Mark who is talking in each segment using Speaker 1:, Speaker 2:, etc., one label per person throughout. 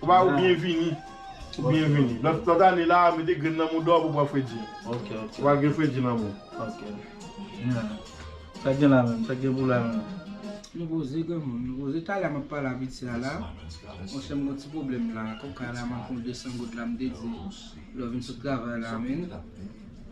Speaker 1: Ou ba ou byen vini. Ou byen vini. Lòt ane la, mete grenn nan mouda w pou pran fredi. Ok, ok. Ou va
Speaker 2: gen fredi
Speaker 1: nan moun. Ok.
Speaker 2: Nya. Sa gen la menm? Sa gen pou la menm? Nou koze
Speaker 3: granmoun, nou koze. Talè m ap pale a pitya a la. Monchè m gen yon ti pwoblèm la. Kòm kay la manke yon 200 goud la m te di lè w vin sot travay la men.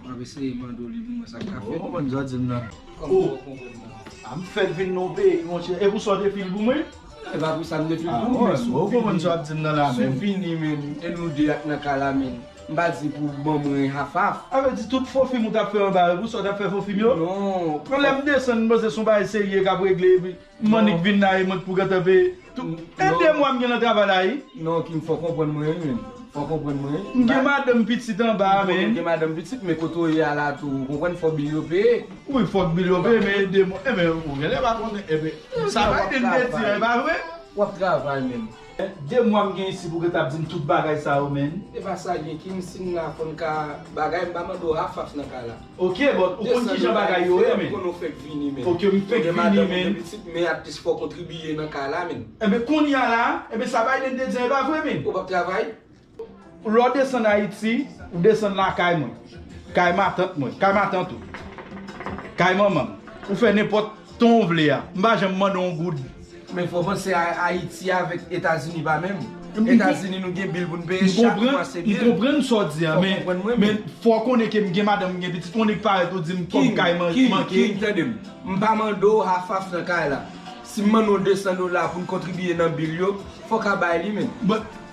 Speaker 3: Map eseye mandolin pou mwen sa ka fèt. Ou konprann sa dim nan?
Speaker 2: Ou konprann
Speaker 3: nan? A m
Speaker 2: fèt vin nan peyi monchè. E pou sa w te fil pou mwen? E pa pou sa m te
Speaker 3: fil pou mwen. Bon, ou konprann
Speaker 2: sa wap dim nan la menm? Sou fini menm,
Speaker 3: e
Speaker 2: nou
Speaker 3: 2 ak nan ka la menm. M pa di pou ban mwen half half. A vle di tout fo fim
Speaker 2: ou tap fè anba yo pou sa w tap fè fo fim yo? Non. Bon lè m
Speaker 3: desann m
Speaker 2: panse son bagay serye kap regle epi. M annik vin la e mwen t pou gentan veye tou e 2 mwa m gen nan travay la ii. Non Kim fòw konprann
Speaker 3: mwen wi menn fòw konprann mwen wi. M gen madanm pitit
Speaker 2: anba a menn. M gen madanm pitit men kote
Speaker 3: w ye a la tou ou konprann fòk bil yo peye. Wi fòk bil yo
Speaker 2: peye men e 2 mwa. Enben ou genlè pa konnen enben sa Biden te di an e pa vre. Wap travay
Speaker 3: menn. Hein 2 mwa m gen
Speaker 2: isit ou gentan ap dim tout bagay sa yo menn. Epa sa gen kim
Speaker 3: sim nan konn ka bagay m pa mande w afaf nan ka la. Ok but ou
Speaker 2: konn kijan bagay yo ye menn. 200 dola ife m konnen w fenk vini menn.
Speaker 3: Ok m fenk vini
Speaker 2: menn. Men atis fò w
Speaker 3: kontribiye nan ka la menn. Enben kounya la
Speaker 2: enben sa Biden te di an epa vre menn. Ou pap travay?
Speaker 3: Lè w
Speaker 2: desann Ayiti, ou desann lakay mwen, kay matant mwen, kay matant ou, kay manman m. Ou fè nenpòt ton ou vle a, m pa janm mande w yon goud. Men fò w panse
Speaker 3: a Ayiti avèk Etazini pa menm. Etazini nou gen bil pou n peye chak mwa se bil. M konprann sa w di a,
Speaker 2: men fò w konnen ke m gen madanm, m gen pitit, on nik parèt ou di m kòb kay manke. King, King, tande m. M pa
Speaker 3: mande w hafhaf nan kay la. Si m mande w 200 dola pou n kontribiye nan bil yo, fò w ka bay li menn.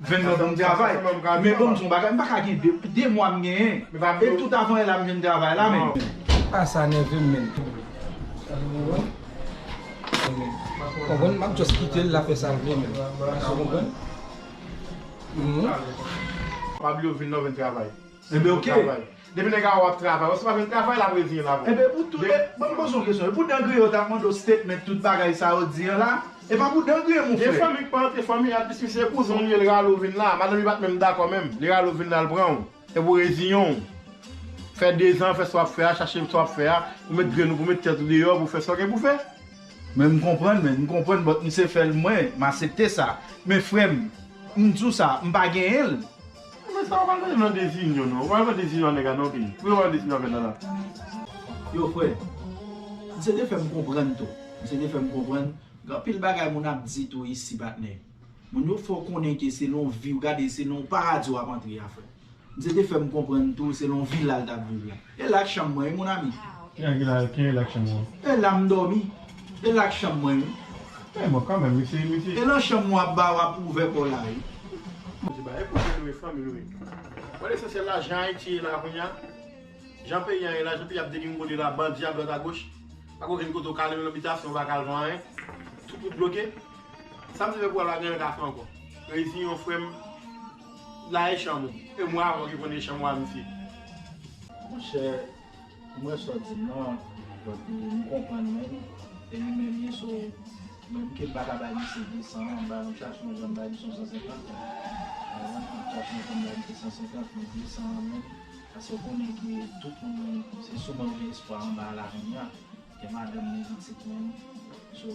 Speaker 2: Vin nan banm travay. Men banm di yon bagay, m pa ka gen 2, 2 mwa m genyen. E tout avan e la m jwenn travay la men. Ah sa nèvem
Speaker 3: menn. Konprann map just kitel la fè sal vle menn. Ou konprann?
Speaker 1: Pablo vin nan vin travay. Enben ok,
Speaker 2: depi nèg a wè ap
Speaker 1: travay, wè se pa vle travay lap reziyen l avèw. Enben pou tout,
Speaker 2: banm poze yon kesyon, e pou dan griyen yo tap mande w statement tout bagay sa yo di an la? E pa pou dan griyen mon frè. Gen fanmi ki pa antre fanmi a
Speaker 1: piske se kouzen w li ye li rale w vin la, madanm li pat menm dakò menm, li rale w vin la l pran w, epi w reziyen w, fè 2 zan fè sa wap fè a, chache sa wap fè a, ou met grenn ou pou met tèt ou deyò pou fè sa w gen pou fè. Men m konprann
Speaker 2: men, m konprann but m se fè l mwen, m asepte sa. Men frè m, m di w sa, m pa genyen l. Mwen sa wap
Speaker 1: al mande nan dezinyon non. Wap al pran dezinyon a nèg a non pi. Pou yo wap al dezinyon avèl la la. Yo
Speaker 2: frè. Misye te fèm konprann tou. Misye te fèm konprann. Gen anpil bagay moun ap di tou isi patnè. Moun yo fè w konnen ke se nan vi w gade se nan yon paradis wap antre a frè. Misye te fèm konprann tou se nan yon villa l tap viv la. E lak chanm mwen wi mon ami. Kijan ki la kijan
Speaker 1: e lak chanm ou. E la m domi.
Speaker 2: E lak chanm mwen wi. Men bon kanmenm
Speaker 1: misye misye. E lan chanm mwen ap
Speaker 2: ba wap ouvè paw la wi. Mesye bagay
Speaker 1: koze nou e fanmi nou e. Bon lesansyèl la jan ayiti ye la kounya jan peyi an ye la jan peyi ap degringole la bandi adwat agoch pako gen kote ou ka ale menm nan bitasyon ou paka al fè anyen tout wout bloke sam te fè pou al la genlè ka fè ankò reziyew frèm. La e chanm ou. E mwen avèw ki konnen chanm ou a mesye.
Speaker 2: Monchè mwen sòti nò donk m konprann menm e li menm ye so menm ke m pa ka bay misye 200 an m bay yon tchatch mwen janm bay misye yon 150 pa egzanp yon tchatch mwen konn bay misye 150 men 200 an menm paske konnen ke tout moun se sou mwen ou gen espwa anba a la kounya gen madanm gen pitit menm so